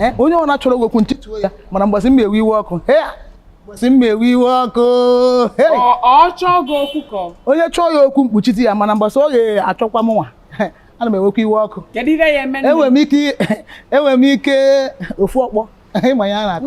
Eh, onye ọ na-achọrọ okwu ntịtụ ya mana mgbasị mma ewe iwe ọkụ mgbasị mma ewe iwe ọkụ onye chọọ ya okwu m kpuchite ya mana mgbasị ọ ga-achọkwa mụnwa ana m ewekwa iwe ọkụ enwere m ike enwere m ike ofu ọkpọ ị ma ihe a na-akọ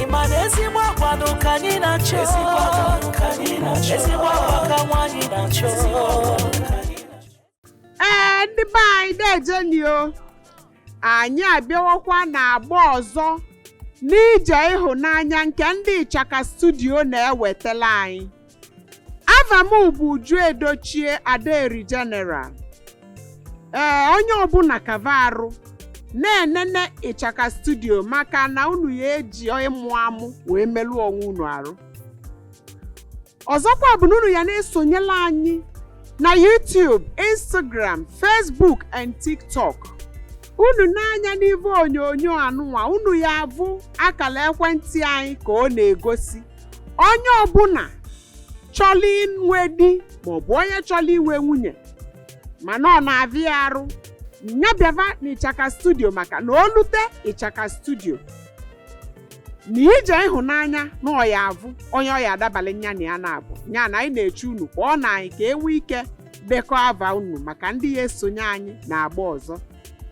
ị ma na ezigbo agwa nụ ka anyị na-achọ ezigbo agwa ka anyị na-achọ ezigbo agwa ka nwaanyị na-achọ ezigbo agwa ka anyị ee ndị be anyị deejeni o anyị abịawakwa n'agba ọzọ n'ije ịhụnanya nke ndị ịchaka studio na-ewetala anyị Ava m bụ Uju Edochie Adaeri General. Ee, onye ọbụna kava arụ na-enene ịchaka studio maka na unu ya eji ịmụ amụ wee melụ onwe unu arụ. Ọzọkwa bụ na unu ya na-esonyela anyị na YouTube, Instagram, Facebook and TikTok. Unu nee anya n'ive onyonyo anụnwa unu ya-avụ akala ekwentị anyị ka ọ na-egosi. onye ọbụna chọlụ inwe di maọbụ onye chọlụ inwe nwunye mana ọ na-avịa ya arụ nya bịava na ịchaka studio maka na o lute ịchaka studio na ije ịhụnanya na ọ ya-avụ onye ọ ya-adabalị nya na ya na-abụ nya na anyị na-eche unu kwa o na anyị ka enwe ike dekọọ ava unu maka ndị ya-esonye anyị n'agba ọzọ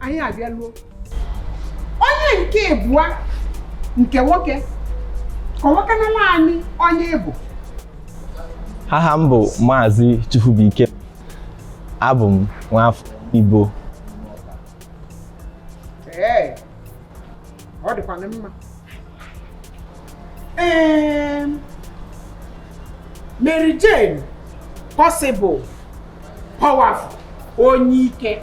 anyị abịaluo onye nke ịbụa nke nwoke kọwakanala anyị onye ị bụ aha m bụ maazị chukwubuike abụ m nwafọ igbo ee ọ dịkwana mma ee Mary Jane possible powerful onye ike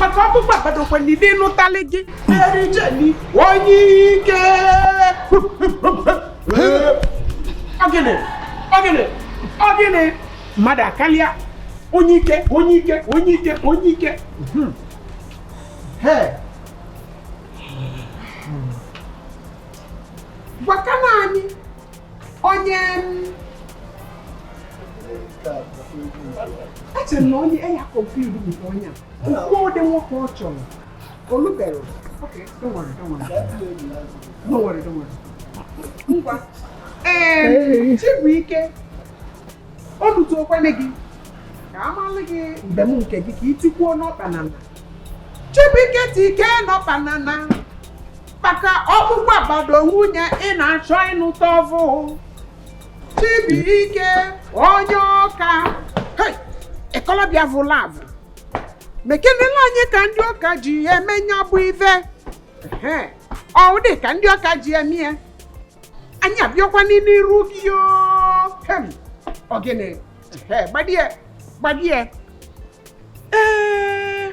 maka ọkpụkpọ agbadokwa n'ime ịnụtali gị Mary Jane onye ike ọgịnị ọgịnị ọgịnị mmadụ akalịa onye ike onye ike onye ike onye ike hmm. gwakana anyị onye eche na onye eya kọmputa bụ onye a o kwuo ụdị nwoke ọ chọrọ o lubere okay don't worry don't worry don't worry don't worry ngwa ee Chibuike ọ lụtụ okwele gị ka a malụ gị mgbe m nke gị ka i tikwuo n'ọkpa na na Chibuike tike n'ọkpa na na maka ọkpụkpụ agbado nwunye ị na-achọ ịnụta ọ vụ Chibuike onye Ọka Ekwulọbịa vụla avụ mekenela anyị ka ndị Ọka ji eme nya bụ ive ọ dị ka ndị Ọka ji eme ya anyị abịakwanụ n'iru gị ogene gbadie gbadie ee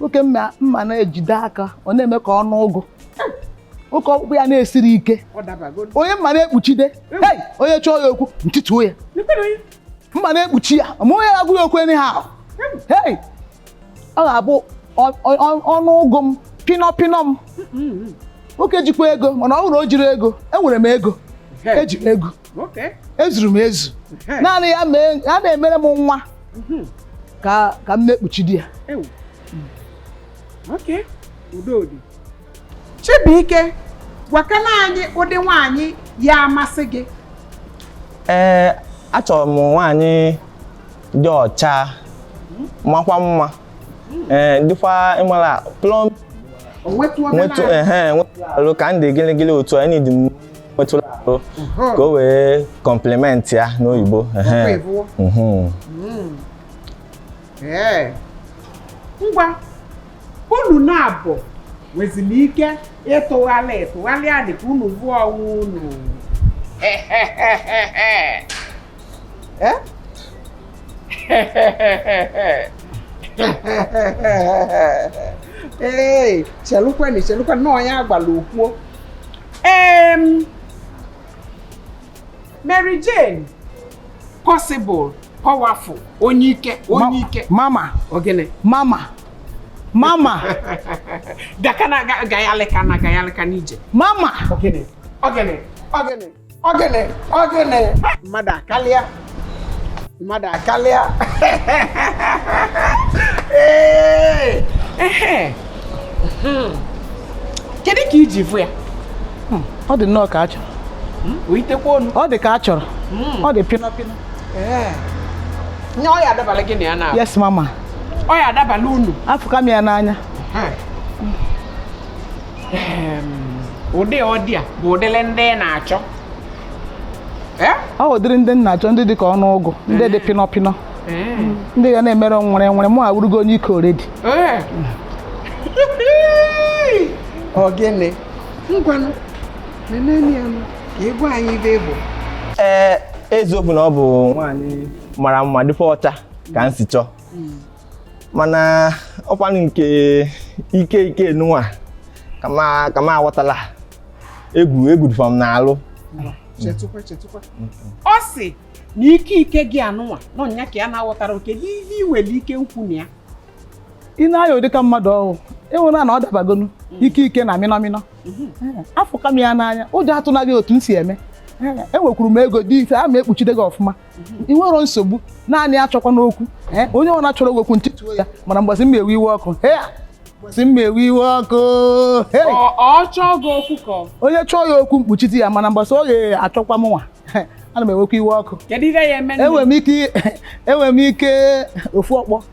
nwoke m ma na-ejide aka ọ na-eme ka ọnụ ụgụ nwoke ọkpụkpụ ya na-esiri ike onye m ma na-ekpuchide hei onye chọọ ya okwu m tituo ya m ma na-ekpuchi ya ma onye agwa ya okwu anyhow hei ọ ga-abụ ọnụ ụgụ m pịnọ pịnọ m nwoke jikwa ego mana ọ bụrụ o jirọ ego enwere m ego eji m ego ezuru m ezu naanị ya na-emere m nwa mhm. ka m na-ekpuchide ya Chibuike gwakana anyị ụdị nwaanyị ya-amasị gị ee achọrọ m nwaanyị dị ọcha makwa mma ee dịkwa ị mara plump nwetụ alụ ka m dị gịlịgịlị otu anyị dị nwetụla arụ ka o wee compliment ya n'oyibo ngwa unu naabọ nweziri ike ịtụgharị tụgharịadị ka unu vụọ onwe unu Eh? ee chelụkwanụ chelụkwanụ na onye agwala okwu o ee Mary Jane possible powerful onye ike onye ike mama ogene mama mama gakana gayalịkana gayalịkana ije mama ogene ogene ogene Ogene, ogene. Mmadụ akalịa. Mmadụ akalịa. Ee. Ehe. Hmm. Kedu ka i ji fụ ya? Hmm, ọ dị nnọọ ka a chọrọ. Hmm, Oyitekwa onu. Ọ dị ka a chọrọ. Ọ dị pịnọ pịnọ. Ee. Nye ọ ya-adabala gị na ya na. Yes mama. Ọ ya-adabala unu. Afụka m ya n'anya. ụdị ọ dị a bụ ụdịrị ndị na-achọ ọ ụdịrị ndị na-achọ ndị dị ka ọnụ ụgụ ndị dị pịnọ pịnọ ndị ga na-emere werewere mụ awụrụgo onye ike already ogene ngwanụ neneni ya nụ ka ị gwa anyị ive bụ ee eziokwu na ọ bụ nwaanyị mara mma dịkwa ọcha ka m si chọọ mana ọkwanụ nke ike ike nụwa ka m aghọtala egwu egwu dịva m n'alụ chetụkwa chetụkwa ọ sị na ike ike gị anụnwa na nya ka ya na-aghọtara oke n'ihe ị nwere ike nkwu na ya ị na-aya ọ dị ka mmadụ ọ wụ i nwere na ọ dabagonu mm. ike ike na mịnọmịnọ mm-hmm. eh, afụka m ya n'anya ụjọ atụna gị otu m si eme enwekwuru m ego dị ise a ma ekpuchide gị ọfụma ị nwere nsogbu naanị achọkwana okwu onye ọwụna chọrọ gị okwu m tituo ya mana mgbazi mma ewe iwe ọkụ mgbazi mma ewe iwe ọkụ onye chọọ ya okwu m kpuchite ya mana mgbasa ọ ga-achọkwa m nwa ana m ewekwa iwe ọkụ enwere m ike ofu ọkpọ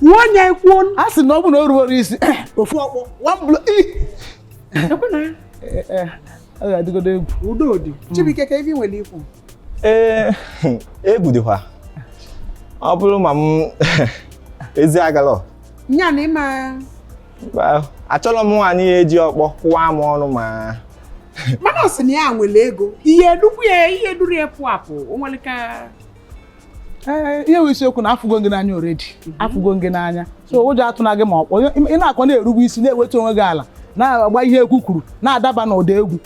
kụọ onye kụọ a sị na ọ bụ na o rubero isi ofu ọkpọ one blow ọ ga-adịgodo egwu udo dị Chibuike kee ife ị nwere ikwu ee egwu dịkwa ọ bụrụ ma m ezi agala nya na ịma achọrọ m nwaanyị ya eji ọkpọ kụwa m ọnụ ma mana ọ sị na ya nwere ego ihe dukwu ya ihe duru ya pụ apụ o nwere ka ee ihe wụ isiokwu na afụgo gị n'anya already mhm. afụgo gị n'anya so ụjọ atụna gị ma ọkpọ ị na-akọ na-erube isi na-ewetu onwe gị ala na-agba ihe egwu kwuru na-adaba n'ụda egwu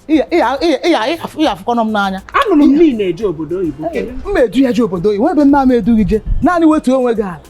ị ya afụkwanụ m n'anya anụrụ m na ị na-eje obodo oyibo m edu ya je obodo oyibo ebe nna m edu gị je naanị wetuo onwe gị ala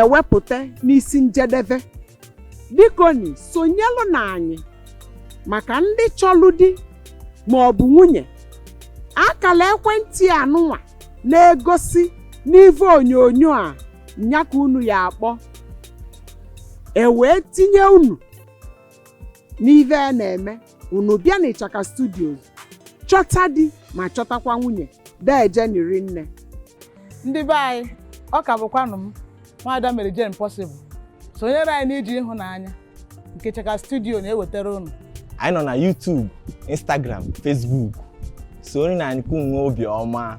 ewepụta n'isi njedebe bikoni sonyelụnị anyị maka ndị chọlụ di ma ọ bụ nwunye akala ekwentị anụnwa na-egosi n'ive onyonyo a nya ka unu ya akpọ e wee tinye unu n'ive a na-eme unu bịa na Ichaka Studios chọta di ma chọtakwa nwunye dejeni rinne ndị be anyị ọ ka bụkwanụ m nwaada Mary Jane Possible sonyere anyị n'ije ịhụnanya nke Ichaka Studio na-ewetara unu anyị nọ na YouTube Instagram Facebook soroni anyị ka unu nwee obi ọma